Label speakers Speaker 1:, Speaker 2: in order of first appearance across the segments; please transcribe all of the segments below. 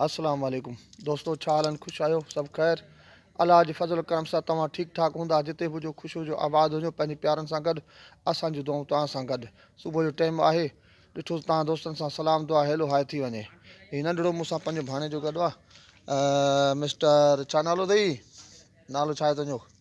Speaker 1: السلام عليڪم دوستو ڇا حالن خوش آهيو سڀ خير الله جي فضل و ڪرم سان توهان ٺيڪ ٺاڪ هوندا جتي به هجو خوش هجو آباد هجو پنهنجي پيارن سان گڏ اسان جون دعائون توهان سان گڏ صبح جو ٽائيم آهي ڏٺو توهان دوستن سان سلام دعا هيلو هاء ٿي وڃي هي ننڍڙو مون سان پنهنجو ڀاڻي جو گڏ آهي مسٽر ڇا نالو اٿئي نالو ڇا آهي تنهنجو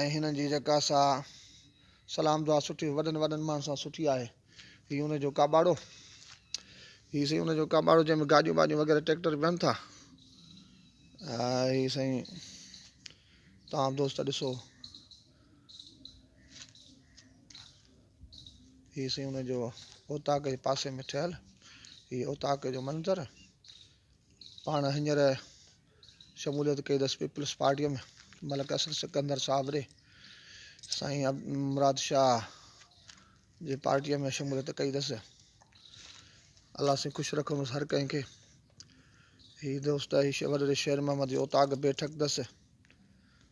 Speaker 1: ۽ هنن جي جيڪا سا سلام دعا سٺي وڏن وڏن ماڻهن سان سٺي آهي هي ان جو ڪاٻاڙو هي سائين ان جو ڪاٻاڙو جنهن ۾ گاڏيون واڏيون وغيره ٽريڪٽر ويهن ٿا هي سائين تمام دوست ڏسو هي سائين ان جو اوطاق جي پاسي ۾ ٺهيل هي اوطاق جو منظر پاڻ هينئر شموليت ڪئي اٿس پيپلز پارٽيء ۾ ملڪ اسد سڪندر صابري سائين مراد شاهه جي پارٽيء ۾ شموليت ڪئي اٿس الله سين خوش رکندس هر ڪنهن کي هي دوست هي وڏيري شير محمد جي اوطاق بيٺڪ اٿس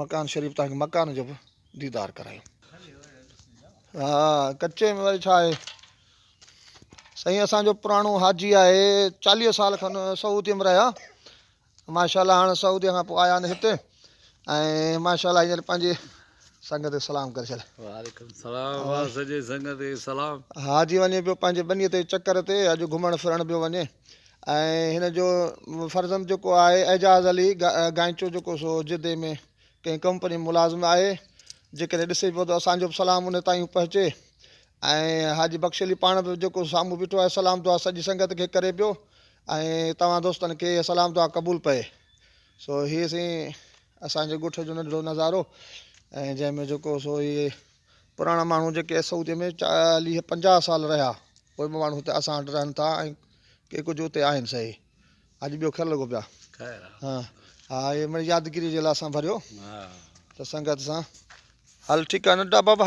Speaker 1: مڪان شريف توهان کي مڪان جو به ديدار ڪرايون. ها ڪچي ۾ وري ڇا آهي. سائين اسان جو پراڻو حاجي آهي چاليهه سال کن سعودي ۾ رهيا ماشاءالله هاڻ سعودي کان پوء آيا آهن هتي ۽ ماشاءالله هينئر پنهنجي سنگت کي سلام ڪري ڇڏ. وعليڪم السلام
Speaker 2: واه سڄي سنگت کي سلام. حاجي وڃي پيو
Speaker 1: پنهنجي ٻنيء تي چڪر تي اڄ گهمڻ ڦرڻ پيو وڃي. ۽ هن جو فرزند جيڪو آهي اعجاز علي گائنچو جيڪو سو جدي ۾ ڪنهن ڪمپني ۾ ملازم آهي جيڪڏهن ڏسي پيو ته اسانجو به سلام ان تائين پهچي ۽ حاجي بخش علي پاڻ به جيڪو سامهون بيٺو آهي سلام دعا سڄي سنگت کي ڪري پيو ۽ توهان دوستن کي سلام دعا قبول پئي سو هي سين اسانجي ڳوٺ جو ننڍڙو نظارو ۽ جنهن ۾ جيڪو سو هي پراڻا ماڻهو جيڪي سعوديء ۾ چاليهه پنجاهه سال رهيا، اهي به ماڻهو هتي اسان وٽ رهن ٿا ۽ ڪي ڪجهه اتي آهن سهي. اڄ ٻيو خير لڳو پيا. خير آ. ها ها اهي مڙئي يادگيريء جي لاء اسان ڀريو ته سنگت سان. هل ٺيڪ آ ننڍا بابا.